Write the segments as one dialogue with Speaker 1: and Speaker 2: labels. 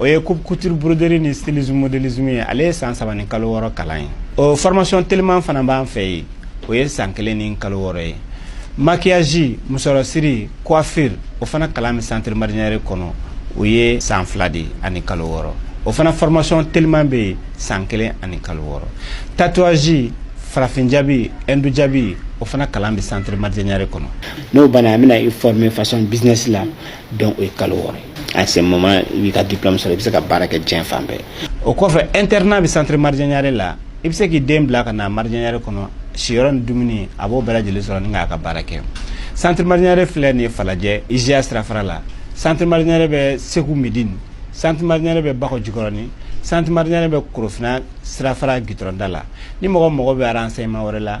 Speaker 1: o ye coupe couture broderie ni stylisme modélisme ye ale ye san saba ni kalo wɔɔrɔ kalan ye o formation teliman fana b'an fɛ yen o ye san kelen ni kalo wɔɔrɔ ye maquillage musɔrɔsiri coiffure o fana kalan bɛ centre mariam niaré kɔnɔ o ye san fila de ani kalo wɔɔrɔ o fana formation teliman bɛ yen san kelen ani kalo wɔɔrɔ tatouage farafin jabi hindu jabi o fana kalan bɛ centre mariam niaré kɔnɔ n'o banna an bɛna i former façon business la donc o ye kalo wɔɔrɔ ye à ce moment i b'i ka diplôme sɔrɔ i bɛ se ka baara kɛ diɲɛ fan bɛɛ o kɔfɛ internat bɛ centre mariam niaré la i bɛ se k'i den bila ka na mariam niaré kɔnɔ siyɔrɔ ni dumuni a b'o bɛɛ lajɛlen sɔrɔ ni k'a ka baara kɛ centre mariam niaré filɛ nin ye falajɛ ija sirafara la centre mariam niaré bɛ segu medini centre mariam niaré bɛ bakɔ jikɔrɔni centre mariam niaré bɛ korofina sirafara gitɔrɔn da la ni mɔgɔ mago bɛ renseignement wɛrɛ la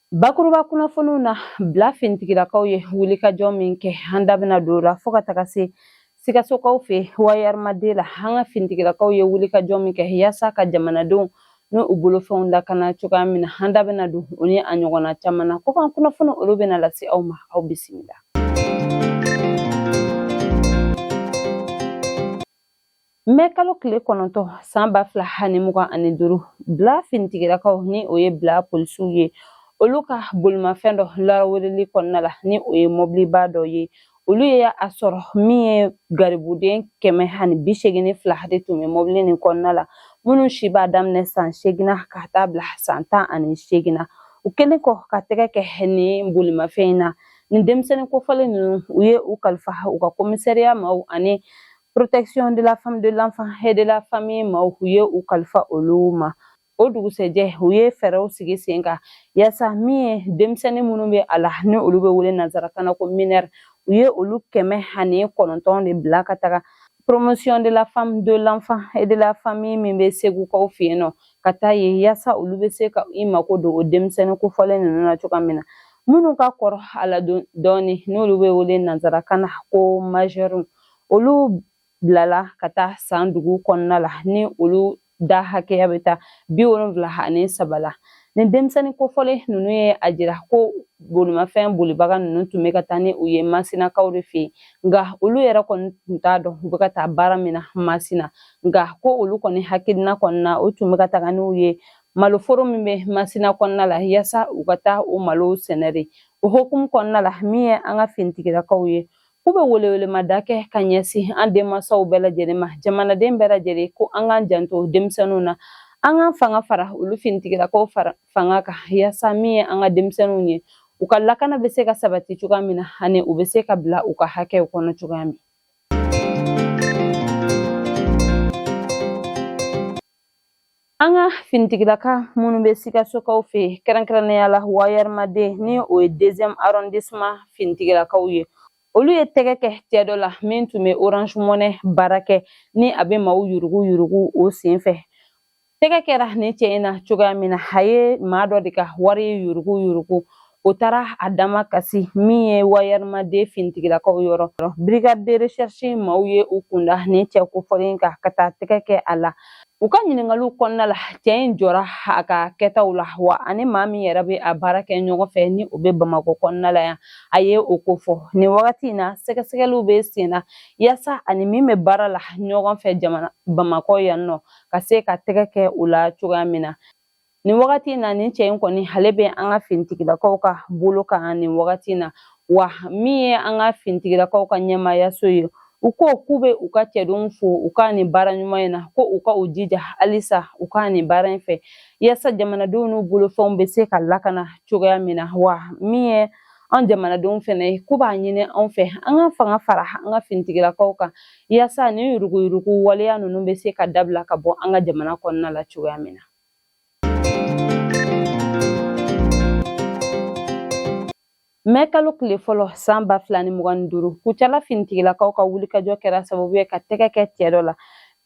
Speaker 2: Bakuruba kunnafoniw na bila finitigilakaw ye wulikajɔ min kɛ an da bɛna don o la fo ka taga se sikasokaw fɛ wayerma deux la an ka finitigilakaw ye wulikajɔ min kɛ yaasa ka jamanadenw ni u bolofɛnw lakana cogoya min na an da bɛna don o ni a ɲɔgɔnna caman na ko kan kunnafoni olu bɛna lase aw ma aw bisimila mɛ kalo tile kɔnɔntɔn san ba fila ani mugan ani duuru bila finitigilakaw ni o ye bila polisiw ye olu ka bolimafɛn dɔ laraweleli kɔnɔna la ni o ye mɔbiliba dɔ ye olu ye a sɔrɔ min ye garibuden kɛmɛ ani bi segin ni fila de tun bɛ mɔbili nin kɔnɔna la minnu si b'a daminɛ san segin na ka taa bila san tan ani segin na u kɛlen kɔ ka tɛgɛ kɛ nin bolimafɛn in na nin denmisɛnnin kofɔlen ninnu u ye u kalifa u ka komisɛriya ma ani protection de la femme de l'enfant et de la famille ma u ye u kalifa olu ma o dugusɛjɛ u ye fɛɛrɛw sigi sen kan yaasa min ye denmisɛnnin minnu bɛ a la ni olu bɛ wele nansarakan na ko minɛr u ye olu kɛmɛ ani kɔnɔntɔn de bila ka taga promotion de la femme de l'enfant et de la famille min bɛ segukaw fɛ yen nɔ ka taa yen yaasa olu bɛ se ka i mako don o denmisɛnnin kofɔlen ninnu na cogoya min na minnu ka kɔrɔ a la dɔɔni n'olu bɛ wele nansarakan na ko majɛriw olu bilala ka taa san dugu kɔnɔna la ni olu da hakɛya bɛ taa bi wolonwula ani saba la nin denmisɛnnin kofɔlen ninnu ye a jira ko bolimafɛn bolibaga ninnu tun bɛ ka taa ni u ye masinakaw de fɛ yen nka olu yɛrɛ kɔni tun t'a dɔn u bɛ ka taa baara min na masina nka ko olu kɔni hakilina kɔnɔna u tun bɛ ka taga n'u ye maloforo min bɛ masina kɔnɔna la yaasa u ka taa o malo sɛnɛ de o hokumu kɔnɔna la min ye an ka finitigilakaw ye K'u bɛ welewelemada kɛ ka ɲɛsin an denmansaw bɛɛ lajɛlen ma jamanaden bɛɛ lajɛlen ko an k'an janto denmisɛnninw na an k'an fanga fara olu finitigilakaw fanga kan yaasa min ye an ka denmisɛnninw ye u ka lakana bɛ se ka sabati cogoya min na ani u bɛ se ka bila u ka hakɛw kɔnɔ cogoya min An ka finitigilaka minnu bɛ sikasokaw fɛ kɛrɛnkɛrɛnnenya la wayɛrɛma deux ni o ye deuxième arrondissement finitigilakaw ye olu ye tɛgɛ kɛ cɛ dɔ la min tun bɛ Orange Money baara kɛ ni a bɛ maaw yurugu yurugu o sen fɛ tɛgɛ kɛra nin cɛ in na cogoya min na a ye maa dɔ de ka wari yurugu yurugu o taara a damakasi min ye wayɛrɛma deux finitigilakaw yɔrɔ brigade de recherche maaw ye u kunda nin cɛ kofɔlen kan ka taa tɛgɛ kɛ a la u ka ɲiningaliw kɔnɔna la cɛ in jɔra a ka kɛtaw la wa a ni maa min yɛrɛ bɛ a baara kɛ ɲɔgɔn fɛ ni o bɛ bamakɔ kɔnɔna la yan a ye o kofɔ nin wagati in na sɛgɛsɛgɛliw bɛ sen na yaasa a ni min bɛ baara la ɲɔgɔn fɛ jamana bamakɔ yan nɔ ka se ka tɛgɛ kɛ o la cogoya min na nin wagati in na nin cɛ in kɔni ale bɛ an ka finitigilakaw ka bolo kan nin wagati in na wa min ye an ka finitigilakaw ka ɲɛmaayaso ye u ko k'u bɛ u ka cɛdenw fo u ka nin baara ɲuman in na ko u ka u jija halisa u ka nin baara in fɛ yaasa jamanadenw n'u bolofɛnw bɛ se ka lakana cogoya min na wa min ye an jamanadenw fɛnɛ ye k'u b'a ɲini anw fɛ an ka fanga fara an ka finitigilakaw kan Yaasa nin yuruguyurugu waleya ninnu bɛ se ka dabila ka bɔ an ka jamana kɔnɔna la cogoya min na. mɛ kalo tile fɔlɔ san ba fila ni mugan ni duuru kucala finitigilakaw ka wulikajɔ kɛra sababu ye ka tɛgɛ kɛ cɛ dɔ la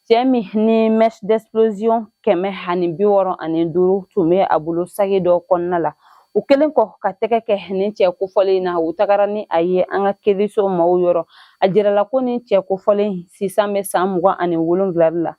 Speaker 2: cɛ min ni mèche d'explosion kɛmɛ ani bi wɔɔrɔ ani duuru tun be a bolo sagi dɔ kɔnɔna la u kɛlen kɔ ka tɛgɛ kɛ nin cɛ kofɔlen na u tagara ni a ye an ka kiiriso maaw yɔrɔ a jirala ko nin cɛ kofɔlen sisan bɛ san mugan ani wolonwula la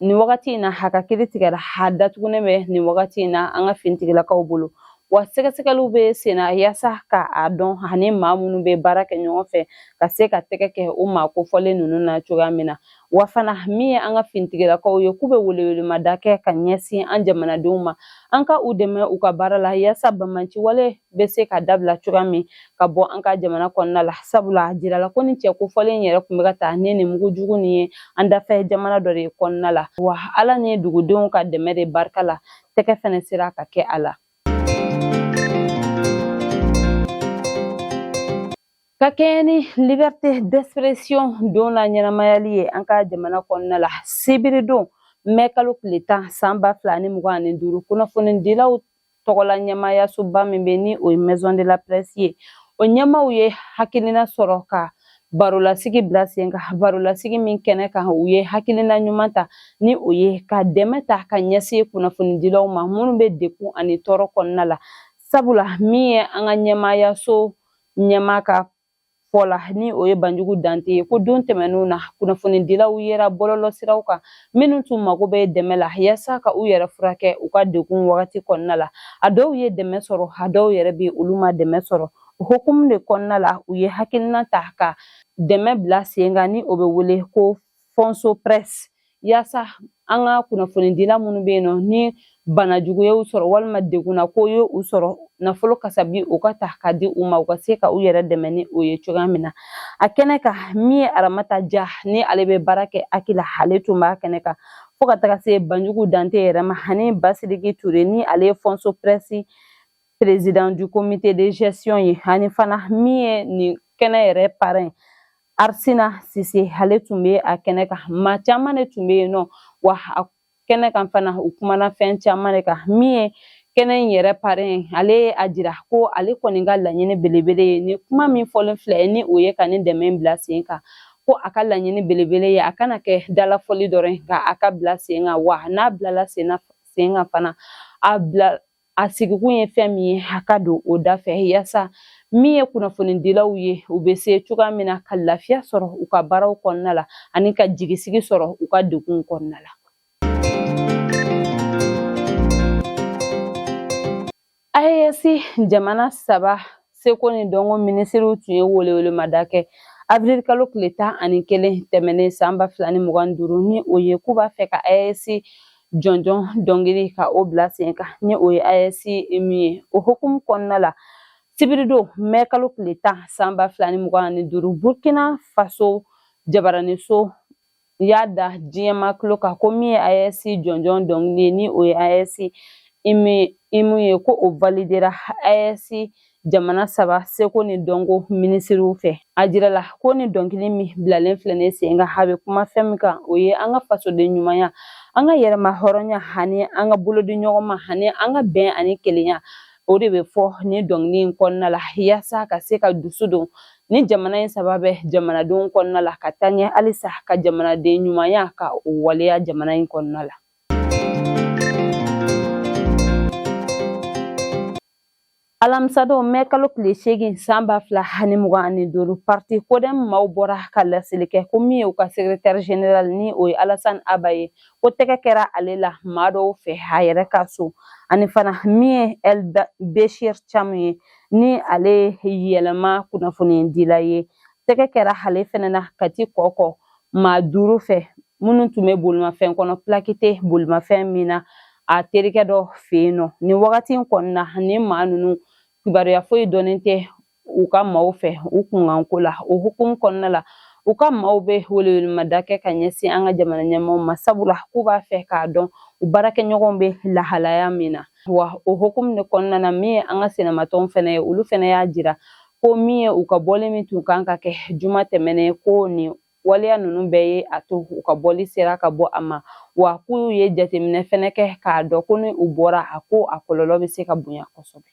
Speaker 2: nin wagati in na a ka kiiri tigɛra a datugunen bɛ nin wagati in na an ka finitigilakaw bolo wa sɛgɛsɛgɛliw bɛ senna yaasa ka a dɔn a ni maa minnu bɛ baara kɛ ɲɔgɔn fɛ ka se ka tɛgɛ kɛ o maa kofɔlen ninnu na cogoya min na wa fana min ye an ka finitigilakaw ye k'u bɛ welewelemada kɛ ka ɲɛsin an jamanadenw ma an ka u dɛmɛ u ka baara la yaasa banbaanci wale bɛ se ka dabila cogoya min ka bɔ an ka jamana kɔnɔna la sabula a jirala ko nin cɛ kofɔlen yɛrɛ tun bɛ ka taa ni nin mugu jugu nin ye an dafɛ jamana dɔ de kɔnɔna la wa ala ni dugudenw ka dɛmɛ de barika la tɛgɛ fɛnɛ sera ka kɛ a la ka kɛɲɛ ni liberté d'expression don na ɲɛnamayali ye an ka jamana kɔnɔna la sibiri don mɛ kalo tile tan san ba fila ni mugan ani duuru kunnafonidilaw tɔgɔla ɲɛmaayasoba min bɛ ni o ye maison de la presse ye o ɲɛmaaw ye hakilina sɔrɔ ka barolasigi bila sen kan barolasigi min kɛnɛ kan u ye hakilina ɲuman ta ni o ye ka dɛmɛ ta ka ɲɛsin kunnafonidilaw ma minnu bɛ degun ani tɔɔrɔ kɔnɔna la sabula min ye an ka ɲɛmaayaso ɲɛmaa ka fɔ la ni o ye banjugu dante ye ko don tɛmɛnenw na kunnafonidilaw yera bɔlɔlɔsiraw kan minnu tun mago bɛ dɛmɛ la yasa ka u yɛrɛ furakɛ u ka degun wagati kɔnɔna la a dɔw ye dɛmɛ sɔrɔ a dɔw yɛrɛ bɛ olu ma dɛmɛ sɔrɔ o hukumu de kɔnɔna la u ye hakilina ta ka dɛmɛ bila sen kan ni o bɛ wele ko fonso press yaasa an ka kunnafonidila minnu bɛ yen nɔ ni bana jugu ye u sɔrɔ walima degunna ko ye u sɔrɔ nafolo kasabi u ka ta ka di u ma u ka se ka u yɛrɛ dɛmɛ ni o ye cogoya min na a kɛnɛ kan min ye aramata ja ni ale bɛ baara kɛ HAC la ale tun b'a kɛnɛ kan fo ka taga se banjugu dante yɛrɛ ma ani basidiki ture ni ale ye fonso press président du comité de gestion ye ani fana min ye nin kɛnɛ yɛrɛ parrain arsina sise ale tun bɛ a kɛnɛ kan maa caman de tun bɛ yen nɔ wa a kɛnɛ kan fana u kumana fɛn caman de kan min ye kɛnɛ in yɛrɛ parrain ale ye a jira ko ale kɔni ka laɲini belebele ye nin kuma min fɔlen filɛ ni o ye ka nin dɛmɛ bila sen kan ko a ka laɲini belebele ye a kana kɛ dalafɔli dɔrɔn ye nka a ka bila sen kan wa n'a bilala sen kan fana a bila a sigikun ye fɛn min ye a ka don o da fɛ yaasa min ye kunnafonidilaw ye u bɛ se cogoya min na ka lafiya sɔrɔ u ka baaraw kɔnɔna la ani ka jigisigi sɔrɔ u ka degun kɔnɔna la AES jamana saba seko ni dɔnko minisiriw tun ye welewelemada kɛ avril kalo tile tan ani kelen tɛmɛnen san ba fila ni mugan ni duuru ni o ye k'u b'a fɛ ka ayɛsi jɔnjɔn dɔnkili ka o bila sen kan ni o ye ayɛsi hymne ye o hukumu kɔnɔna la sibiridon mɛ kalo tile tan san ba fila ni mugan ani duuru burkina faso jabaraniso u y'a da diɲɛmaa tulo kan ko min ye ayɛsi jɔnjɔn dɔnkili ye ni o ye ayɛsi hymne ye ko o validera ayɛsi jamana saba seko ni dɔnko minisiriw fɛ a jirala ko nin dɔnkili min bilalen filɛ nin sen kan a bɛ kuma fɛn min kan o ye an ka fasoden ɲumanya an ka yɛrɛmahɔrɔnya ani an ka bolodiɲɔgɔnma ani an ka bɛn ani kelenya o de bɛ fɔ nin dɔnkili in kɔnɔna la yaasa ka se ka dusu don nin jamana in saba bɛɛ jamanadenw kɔnɔna la ka taa ɲɛ halisa ka jamanaden ɲumanya ka o waleya jamana in kɔnɔna la alamisadon mɛ kalo tile seegin san ba fila ani mugan ani duuru parti kodɛm maaw bɔra ka laseli kɛ ko min ye u ka sekretɛri general ni o ye alasan aba ye ko tɛgɛ kɛra ale la maa dɔw fɛ a yɛrɛ ka so ani fana min ye el beshir camu ye ni ale yɛlɛma kunnafonidila ye tɛgɛ kɛra ale fɛnɛ na kati kɔkɔ maa duuru fɛ minnu tun bɛ bolimafɛn kɔnɔ pilaki tɛ bolimafɛn min na a terikɛ dɔ fɛ yen nɔ nin wagati in kɔnɔna nin maa ninnu kibaruya foyi dɔnnen tɛ u ka maaw fɛ u kunkanko la o hukumu kɔnɔna la u ka maaw bɛ welewelemada kɛ ka ɲɛsin an ka jamana ɲɛmaaw ma sabula k'u b'a fɛ k'a dɔn u baarakɛɲɔgɔnw bɛ lahalaya min na wa o hokumu de kɔnɔna na min ye an ka sinamatɔnw fɛnɛ ye olu fɛnɛ y'a jira ko min ye u ka bɔli min tun kan ka kɛ juma tɛmɛnen ko nin waleya ninnu bɛɛ ye a to u ka bɔli sera ka bɔ a ma wa k'u ye jateminɛ fɛnɛ kɛ k'a dɔn ko ni u bɔra a ko a kɔlɔlɔ bɛ se ka bonya kosɛbɛ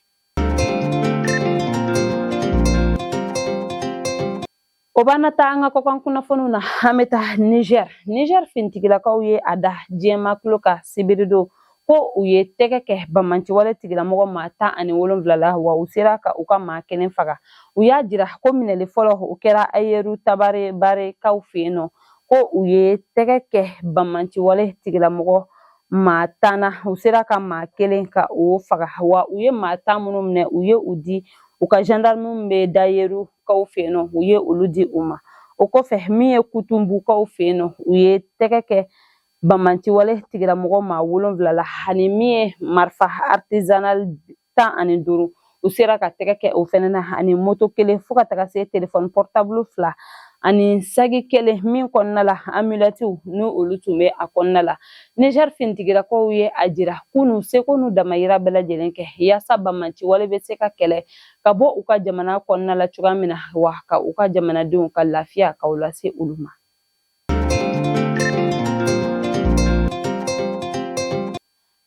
Speaker 2: O b'an nataa an ka kɔkan kunnafoniw na an bɛ taa nizɛri nizɛri finitigilakaw ye a da diɲɛmaa tulo kan sibiri don ko u ye tɛgɛ kɛ bamanciwale tigilamɔgɔ maa tan ani wolonwula la wa u sera ka u ka maa kelen faga u y'a jira ko minɛli fɔlɔ o kɛra ayeru tabarebarekaw fɛ yen nɔ ko u ye tɛgɛ kɛ bamanciwale tigilamɔgɔ maa tan na u sera ka maa kelen ka o faga wa u ye maa tan minnu minɛ u ye u di u ka gendarmerie d'ayeru kaw fɛ yen nɔ u ye olu di u ma o kɔfɛ min ye kutunbukaw fɛ yen nɔ u ye tɛgɛ kɛ bamanciwale tigilamɔgɔ maa wolonwula la ani min ye marifa artisanal tan ani duuru u sera ka tɛgɛ kɛ o fɛnɛ na ani moto kelen fo ka taga se telefɔni pɔrɔtabulu fila ani saki kelen min kɔnɔna la amulɛtiw ni olu tun bɛ a kɔnɔna la niger finitigilakaw ye a jira k'u n'u seko n'u damayira bɛɛ lajɛlen kɛ yaasa bamanciwale bɛ se ka kɛlɛ ka bɔ u ka jamana kɔnɔna la cogoya min na wa ka u ka jamanadenw ka lafiya ka o lase olu ma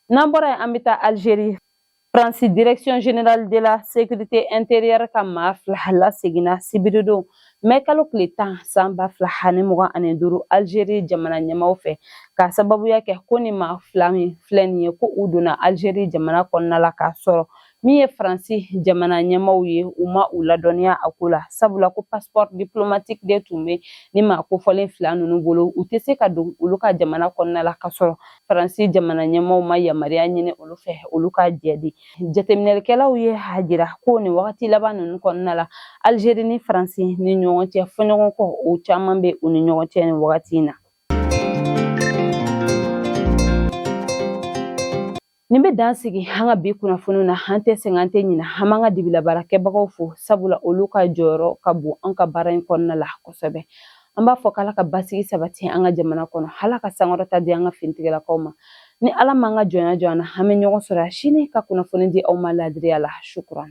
Speaker 2: n'an bɔra yen an bɛ taa alizeri faransi direction generale de la sécurité intérieure ka maa fila laseginna sibiridon mɛ kalo tile tan san ba fila ani mugan ani duuru alizeri jamana ɲɛmaaw fɛ k'a sababuya kɛ ko nin maa fila min filɛ nin ye ko u donna alizeri jamana kɔnɔna la k'a sɔrɔ min ye faransi jamana ɲɛmaaw ye u ma u ladɔnniya a ko la sabula ko passeport diplomatique de tun bɛ nin maa kofɔlen fila ninnu bolo u tɛ se ka don olu ka jamana kɔnɔna la ka sɔrɔ faransi jamana ɲɛmaaw ma yamaruya ɲini olu fɛ olu ka jɛn di jateminɛlikɛlaw ye a jira ko nin wagati laban ninnu kɔnɔna la algeri ni faransi ni ɲɔgɔn cɛ fɔɲɔgɔnkɔ o caman bɛ u ni ɲɔgɔn cɛ nin wagati in na Nin bɛ dan sigi an ka bi kunnafoniw na an tɛ sɛgɛn an tɛ ɲinɛ an b'an ka dibilabaarakɛbagaw fo sabula olu ka jɔyɔrɔ ka bon an ka baara in kɔnɔna la kosɛbɛ an b'a fɔ k'ala ka basigi sabati an ka jamana kɔnɔ ala ka sankɔrɔta di an ka finitigilakaw ma ni ala m'an ka jɔnya jɔ an na an bɛ ɲɔgɔn sɔrɔ sini ka kunnafoni di aw ma laadiriya la sukuran